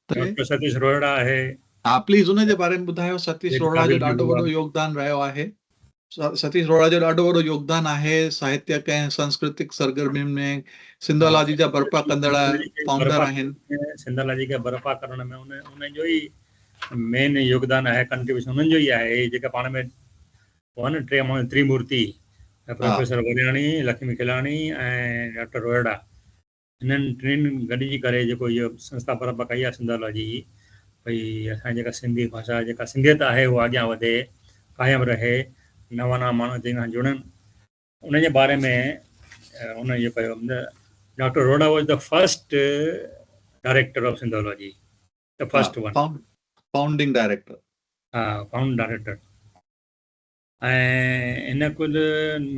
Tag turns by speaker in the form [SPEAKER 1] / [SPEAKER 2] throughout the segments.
[SPEAKER 1] ته ڊاڪٽر ستيش روهڙا
[SPEAKER 2] آهي. ها پليز ان جي
[SPEAKER 1] باري ۾ ٻڌايو ستيش روهڙا جو ڏاڍو وڏو
[SPEAKER 2] يوگدان
[SPEAKER 1] رهيو آهي ستيش روهڙا جو ڏاڍو وڏو يوگدان آهي ساهتيڪ ۽ سنسڪرتڪ سرگرمين ۾ سنڌالاجي جا برپا ڪندڙ فائونڊر آهن سنڌالاجي کي
[SPEAKER 2] برپا ڪرڻ ۾ انهن جو ئي مين يوگدان آهي ڪنٽريبيوشن انهن جو ئي آهي جيڪا پاڻ ۾ هو نه ٽي ماڻهو Trimurti professor Waryani Lakhmi Khilani ۽ doctor Rohra انهن ٽنهين گڏجي ڪري جيڪو هيء سنسٿا برپا ڪئي آهي سنڌالاجي جي ڀئي اسان جي جيڪا سنڌي ڀاشا جيڪا سنڌيت آهي اها اڳيان وڌي قائم رهي نوان نوان ماڻهو اچي ان سان جڙن ان جي باري ۾ ان اهو ڪيو doctor Rohra was the first director of Sindhology the first one founding
[SPEAKER 1] director ها فائونڊ
[SPEAKER 2] ڊائريڪٽر ۽ ان ڪل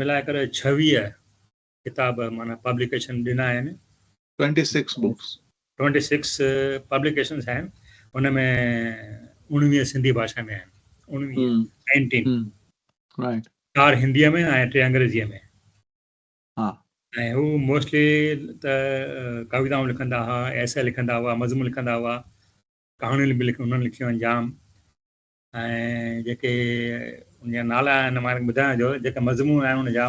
[SPEAKER 2] ملائي ڪري 26 ڪتاب معنيٰ پبليڪيشن ڏنا آهن. Twenty six
[SPEAKER 1] books. Twenty six
[SPEAKER 2] publications آهن ان ۾ اوڻويهه سنڌي ڀاشا ۾ آهن اوڻويهه Nineteen Right.
[SPEAKER 1] چار هنديء
[SPEAKER 2] ۾ ۽ ٽي انگريزيء ۾ ها
[SPEAKER 1] ۽ هو
[SPEAKER 2] موسٽلي ته ڪويتائون لکندا هئا ايسي لکندا هئا مضمون لکندا هئا ڪهاڻيون به لکن انهن لکيون آهن جام ۽ جيڪي ان جا نالا آهن مارڪ ٻڌايان جو جيڪا مضمون آهن ان جا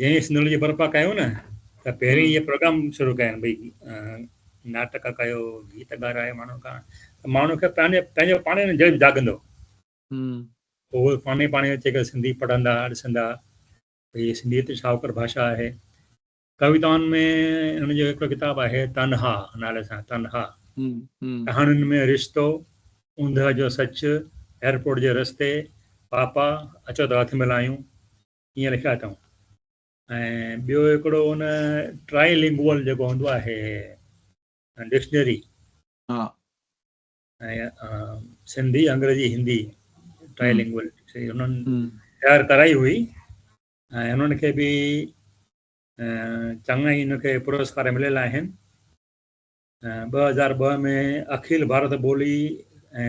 [SPEAKER 2] جنهن سندرن جي برپا ڪيو نه ته پهرين اهي پروگرام شروع ڪيا آهن ڀئي ناٽڪ ڪيو گيت ڳارائي ماڻهو کان ته ماڻهو کي پنهنجي پنهنجو پاڻ نه جذب جاڳندو اهو پاڻ ئي پاڻ اچي ڪري سنڌي پڙهندا ڏسندا ڀئي سنڌي ته شاهوڪر ڀاشا آهي ڪويتائن ۾ هن جو هڪڙو ڪتاب آهي تنها نالي سان تنها ڪهاڻين ۾ رشتو اوندهه جو سچ ايئرپورٽ جي رستي پاپا اچو ته هٿ ملايون ائين لکيا اٿئون ۽ ٻيو هڪڙو ان ٽرائي لنگوئل جيڪو هوندو آهي ڊڪشنري ها ۽ سنڌي انگريزي هندي ٽرائي لنگوئل ڊڪشنري انهن تيار ڪرائي هئي ۽ انهن کي به چڱا ئي ان کي پرسڪار مليل آهن ٻه هزار ٻه ۾ اکيل ڀارت ٻولي ۽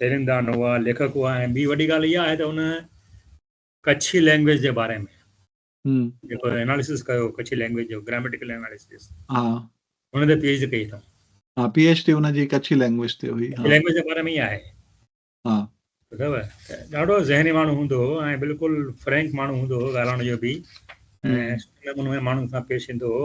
[SPEAKER 2] تيرندا نووا ليکڪ هئا ۽ ٻي وڏي ڳالهه اها آهي ته ان ڪڇي لينگويج جي باري ۾ جيڪو اناليسس ڪيو ڪڇي لينگويج جو گراميٽيڪل اناليسس ها ان تي پي ايڇ ڊي ڪئي اٿم ها پي ايڇ ڊي ان
[SPEAKER 1] جي ڪڇي لينگويج تي هئي ها لينگويج جي باري ۾ ئي آهي
[SPEAKER 2] ها ٻڌو ڏاڍو ذهني ماڻهو هوندو هو ۽ بلڪل فرينڪ ماڻهو هوندو هو ڳالهائڻ جو به ۽ سٺي نموني ماڻهن سان پيش ايندو هو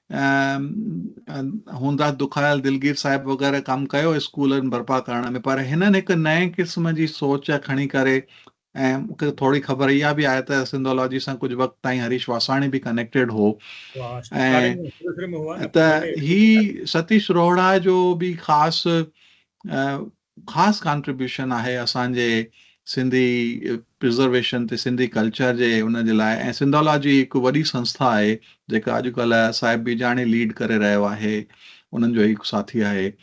[SPEAKER 1] ۽ هوندا دکايل دلگير صاحب وغيره ڪم ڪيو اسڪولن برپا ڪرڻ ۾ پر هنن هڪ نئين قسم جي سوچ کڻي ڪري ۽ مونکي ٿوري خبر اها به آهي ته سنڌولاجي سان ڪجهه وقت تائين هريش واساڻي به ڪنيڪٽيڊ هو ۽ ته هي ستيش روهڙا جو به خاص خاص ڪانٽريبيوشن آهي اسان جي سنڌي پرزرويشن تي سنڌي ڪلچر جي ان جي لاء ۽ سنڌالاجي هڪ وڏي سنسٿا آهي جيڪا اڄ ڪلهه صاحب بيجاڻي ليڊ ڪري رهيو آهي انهن جو هڪ ساٿي آهي.